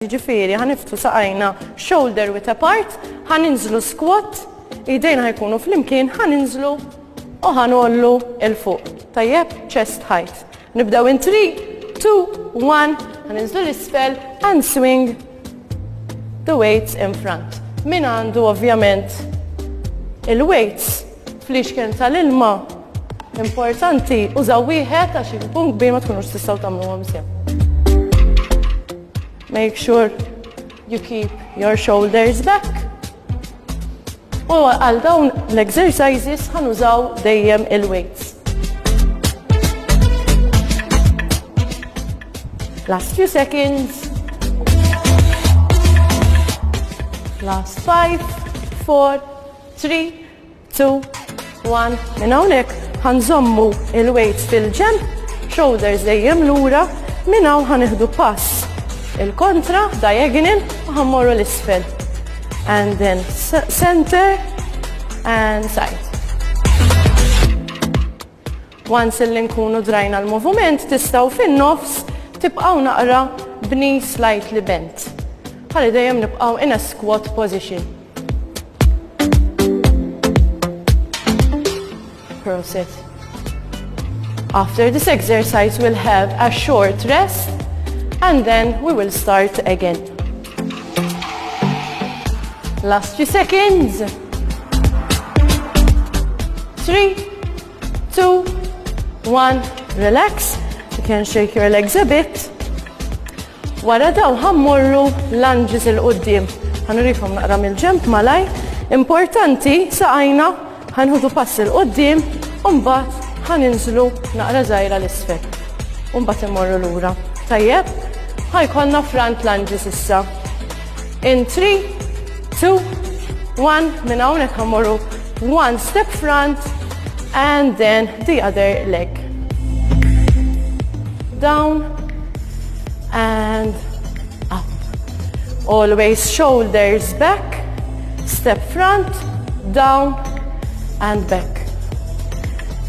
Jiġifieri ħa niftu saqajna shoulder width apart, ħa ninżlu squat, idejna ħajkunu flimkien, ħa ninżlu u ħa nollu il fuq. Tajjeb, chest height. Nibdew in 3, 2, 1, ħa ninżlu l-isfel and swing the weights in front. Min għandu ovvjament il-weights Fl-ixken tal-ilma importanti użaw wieħed għax ikun kbir ma tkunux tistgħu tagħmluhom sew. Make sure you keep your shoulders back. U għal dawn l-exercises ħanużaw dejjem il-weights. Last few seconds. Last five, four, Three, two, one, minn hawnhekk ħanżommu il-weights fil-ġenb, shoulders dejjem lura, minn hawn ħanieħdu pass il-kontra, diagonal, u ħammorru l-isfel. And then center and side. Once illi nkunu drajna l-movument tistgħu fin-nofs tibqgħu naqra b'knees slightly bent. Ħalli dejjem nibqgħu in a squat position. Prosit. After this exercise we'll have a short rest and then we will start again. Last few seconds. Three, two, one, relax. You can shake your legs a bit. Wara daw ħammurru lunges il-qoddim. Ħanurikom naqra mill-ġemp malaj. Importanti saqajna ħanħudu pass il-qoddim u mbagħad ħaninżlu naqra żgħira l-isfel. U mbagħad immorru lura. Tajjeb? Ħajkonna front lunges issa. In 3, 2, 1, minn hawnhekk ħammorru one step front and then the other leg. Down and up. Always shoulders back, step front, down and back.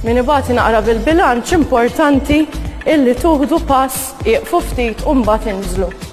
Min ibati naqra bil-bilanċ importanti illi tuħdu pass iqfu ftit u mbagħad inżlu.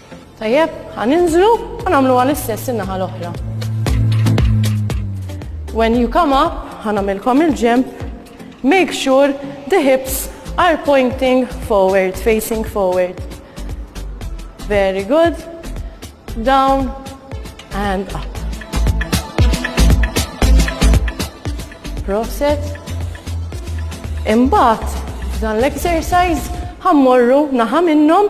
Tajjeb, ħa ninżlu u nagħmluha l-istess in-naħa l-oħra. When you come up, ħa nagħmilkom il-ġemp, make sure the hips are pointing forward, facing forward. Very good. Down and up. Proset. Imbagħad dan l-exercise ħammorru naħa minnhom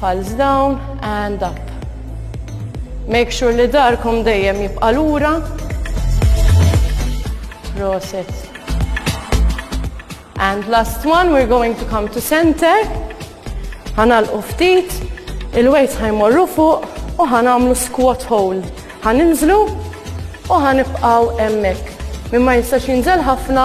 Palms down and up. Make sure li darkom dejjem jibqa' lura. Proset. And last one, we're going to come to center. Ħanal ftit, il-weights ħajmorru fuq u ħanamlu squat hold. Ħaninżlu u ħanibqaw emmek. Mimma jistax jinżel ħafna,